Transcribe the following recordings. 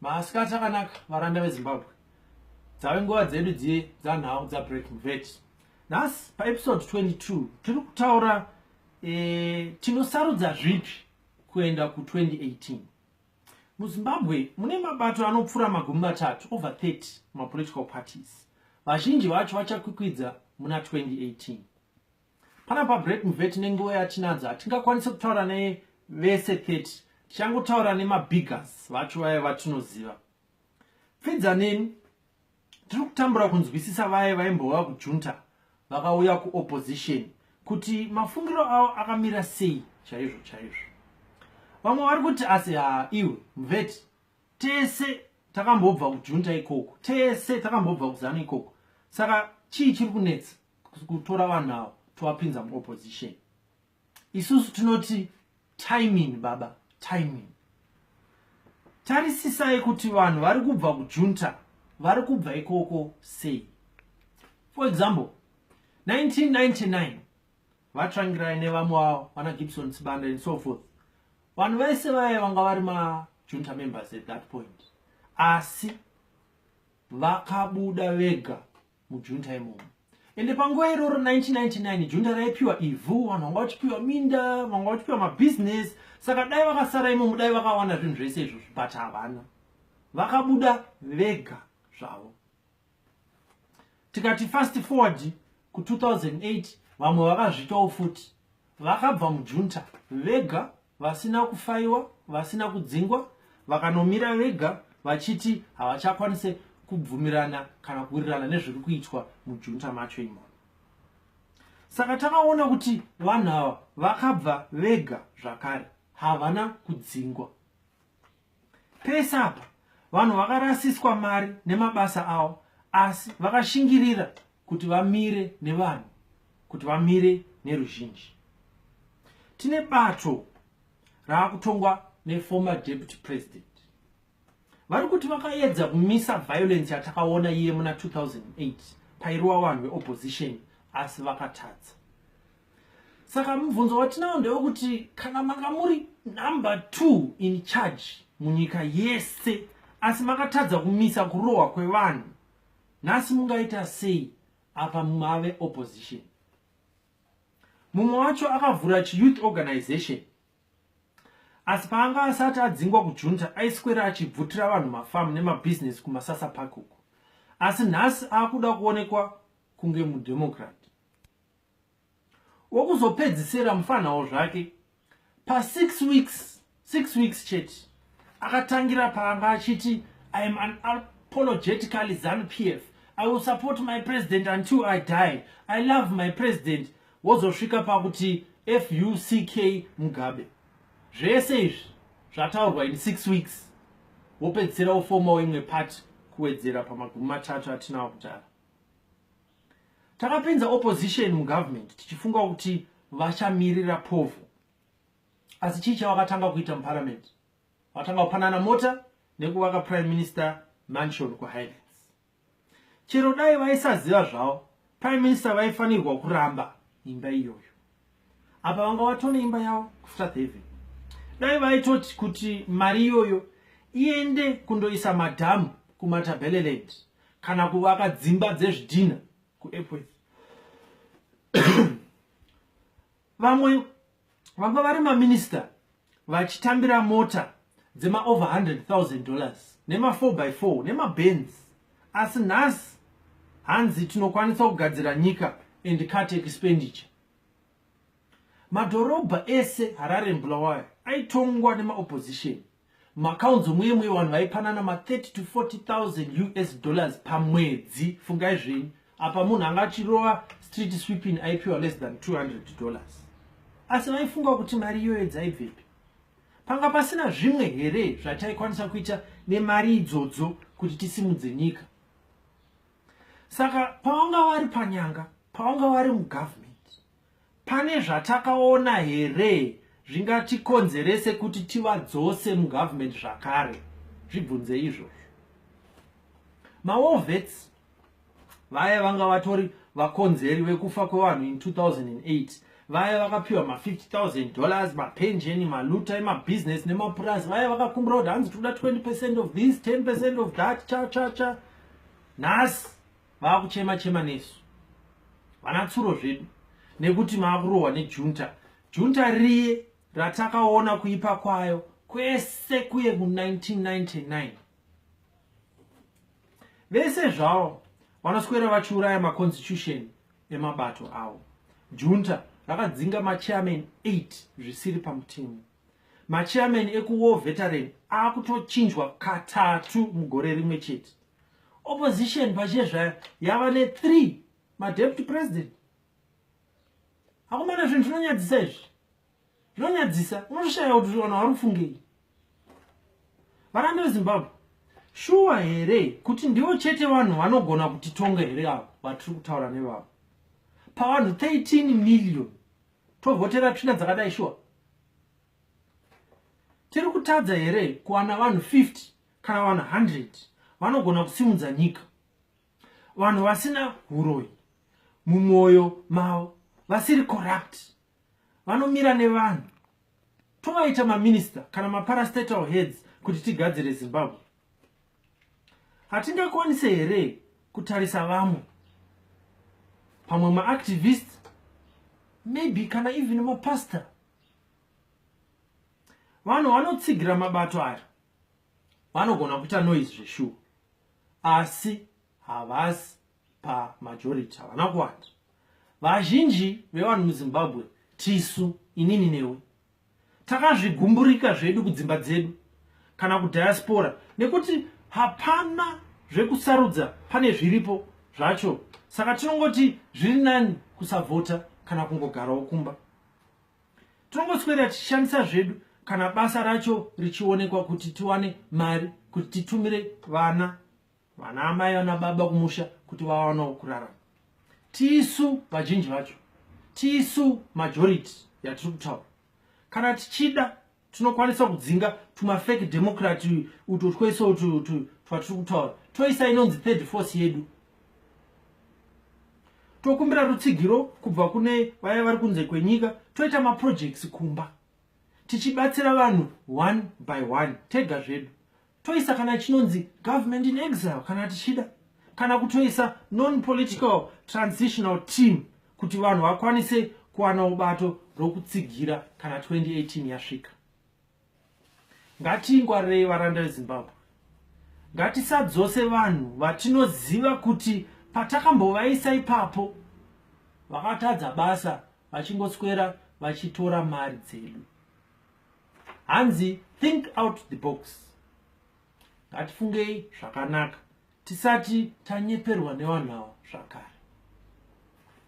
maasikati akanaka varanda vezimbabwe dzave nguva dzedu dziye dzanhau dzabreaking vet nhasi paepisode 22 tiri kutaura e, tinosarudza zvipi kuenda ku2018 muzimbabwe mune mabato anopfuura magumi matatu over 30 mapolitical parties vazhinji vacho vachakwikwidza muna 2018 Pana pa break mveti nenguva yatinadzo hatingakwanise kutaura ne vese 30 tichangotaura nemabiggers vacho vaye vatinoziva pfidza neni tiri kutambura kunzwisisa vaye vaimbova kujunta vakauya kuopposition kuti mafungiro avo akamira sei chaizvo chaizvo vamwe vari kuti asi ha iwe mveti tese takambobva kujunta ikoko tese takambobva kuzana ikoko saka chii chiri kunetsa kutora vanhu avo tovapinza muopposition isusu tinoti timing baba timing tarisisai kuti vanhu vari kubva kujunta vari kubva ikoko sei for example 1999 vatrangirai nevamwe vavo vana gibson sibanda and so forth vanhu vaise vaye vanga vari majunta members at that point asi vakabuda vega mujunta imomo ende panguva iroro 1999 junta raipiwa ivhu vanhu vanga vachipiwa minda vanga vachipiwa mabhizinesi saka dai vakasara imomo dai vakawana zvinhu zvese izvo but havana vakabuda vega zvavo tikati fast forward ku2008 vamwe vakazvitawo futi vakabva mujunta vega vasina kufaiwa vasina kudzingwa vakanomira vega vachiti havachakwanise kubvumirana kana kuwirirana nezviri kuitwa mujunta macho imomo saka takaona kuti vanhu ava vakabva vega zvakare havana kudzingwa Pese apa vanhu vakarasiswa mari nemabasa avo asi vakashingirira kuti vamire nevanhu kuti vamire neruzhinji tine bato raakutongwa neformer deputy president vari kuti vakaedza kumisa violence yatakaona iye muna 2008 pairowa vanhu veopposition asi vakatadza saka mubvunzo watinawo ndewekuti kana manga muri number two in charge munyika yese asi makatadza kumisa kurohwa kwevanhu nhasi mungaita sei apa mave opposition mumwe wacho akavhura chiyouth organization asi paanga asati adzingwa kujunta aiswera achibvutira vanhu mafamu nemabhizinesi kumasasa park uku asi nhasi akuda kuonekwa kunge mudemokrat wokuzopedzisira mufanhawo zvake pasix weeks six weeks chete akatangira paanga achiti i am an apologetically zanu p f i will support my president until i die i love my president wozosvika pakuti fuck mugabe zvese izvi zvataurwa in six weeks wopedzisira wofomawo imwe pati kuwedzera pamagumi matatu atinawo kutara takapinza opposition mugovernment tichifunga kuti vachamirira povo asi chii chavakatanga kuita muparliament vakatanga kupanana mota nekuvaka prime minister mansion kuhighlands chero dai vaisaziva zvavo prime minister vaifanirwa kuramba imba iyoyo apa vanga vatone imba yavo kufta theve dai vaitoti kuti mari iyoyo iende kundoisa madhamu kumatabeleland kana kuvaka dzimba dzezvidhina kuepworth vamwe vanga vari maminista vachitambira mota dzema over 100,000 dollars nema 4 by 4 nema bens asi nhasi hanzi tinokwanisa kugadzira nyika and cut expenditure madhorobha ese harare mbulawayo aitongwa nemaopposition macounts omweye mweye vanhu vaipanana ma 30 to 40000 us dollars pamwedzi fungai zvenyu apa munhu anga achirova street sweeping aipiwa less than 200 dollars asi vaifunga kuti mari iyoyo dzaibvepi panga pasina zvimwe here zvataikwanisa kuita nemari idzodzo kuti tisimudze nyika saka pawanga wari panyanga pawanga wari mugovernment Pane zvatakaona here zvingatikonzerese kuti tivadzose mugovernment zvakare? Zvibvunze izvozvo. Mawar vets vaya vanga vatori vakonzeri vekufa kwevanhu in 2008 vaya vakapiwa ma50000 dollars mapenjeni maluta emabusiness nemapurazi vaya vakakumbira kuti hanzi toda 20 percent of this 10 percent of that cha cha cha nhasi vakuchema chema nesu vana tsuro zvedu nekuti maakurohwa nejunta junta riye ratakaona kuipa kwayo kwese kuye ku1999 vese zvavo vanoswera vachiuraya maconstitution emabato avo junta rakadzinga machairman 8 zvisiri pamutemo machairman ekuwar veteran akutochinjwa katatu mugore rimwe chete opposition pachiye zvayo yava ne3 madeputy president akomana zvinhu zvinonyadzisa izvi zvinonyadzisa unotoshaya kuti vanhu vari kufungei varambe vezimbabwe shuwa here kuti ndivo chete vanhu vanogona kutitonga here avo vatiri kutaura nevavo pavanhu 13 million tovhotera tsvina dzakadai shuwa tiri kutadza here kuwana vanhu 50 kana vanhu 100 vanogona kusimudza nyika vanhu vasina uroyi mumwoyo mavo vasiri corrupt vanomira nevanhu tovaita maminista kana maparastatal heads kuti tigadzire zimbabwe hatingakwanise here kutarisa vamwe pamwe maactivist maybe kana even mapastor vanhu vanotsigira mabato aya vanogona kuita noise zveshuwa asi havasi pamajority havana kuwanda vazhinji vevanhu muzimbabwe tisu inini newe takazvigumburika zvedu kudzimba dzedu kana kudiaspora nekuti hapana zvekusarudza pane zviripo zvacho saka tinongoti zviri nani kusavhota kana kungogarawo kumba tinongoswera tichishandisa zvedu kana basa racho richionekwa kuti tiwane mari kuti titumire vana vana amai vana baba kumusha kuti vawanawo kurarama tisu vazhinji vacho tisu majority yatiri kutaura kana tichida tinokwanisa kudzinga tumafake democrat uto twese utu twatiri kutaura toisa inonzi third force yedu tokumbira rutsigiro kubva kune vaya vari kunze kwenyika toita maprojects kumba tichibatsira vanhu one by one tega zvedu toisa kana chinonzi government in exile kana tichida kana kutoisa non-political transitional team kuti vanhu vakwanise kuwana ubato rokutsigira kana 2018 yasvika ngatiingwarirei varanda vezimbabwe ngatisadzose vanhu vatinoziva kuti patakambovaisa ipapo vakatadza basa vachingoswera vachitora mari dzedu hanzi think out the box ngatifungei zvakanaka tisati tanyeperwa nevanhu ava zvakare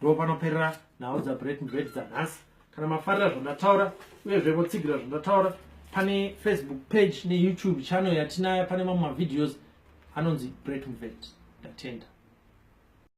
ndo panoperera nhau dzabreaking bad dzanhasi kana mafarira zvandataura uyezve motsigira zvandataura pane facebook page neyoutube channel yatinaya pane mamwe mavideos anonzi breaking bad ndatenda